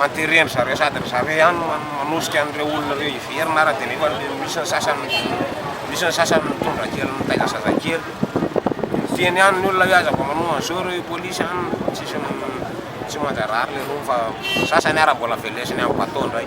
Anteren'ny zareo sady ry zareo ihany no manosika an'ireo olona ireo hiverina ara dia nefa misy ny sasany misy ny sasany mitondra kely mitaiza zazakely. Feno ihany ny olona hoe aza vao manoa an'izao ireo i polisy any fa tsisy tsy manjarary le rony fa sasany ara mbola velesiny amin'ny bateau indray.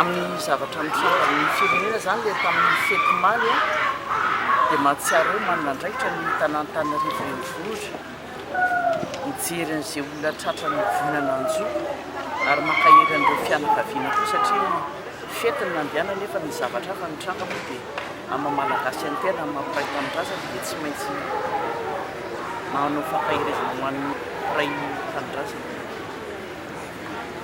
Amin'ny zavatra mitranga amin'ny firenena izany ilay tamin'ny fety omaly dia mahatsiaro hoe manana andraikitra ny tanàn'Antananarivo renivohitra mijery an'izay olona tratra nivonana an-jo ary mankahery an'ireo fianakaviana koa satria fety no nandehanany nefa ny zavatra hafa mitranga moa dia amin'ny maha-malagasy an-tena amin'ny maha-mpiray tanindrazana dia tsy maintsy manao fampaherezana ho an'ny mpiray tanindrazana.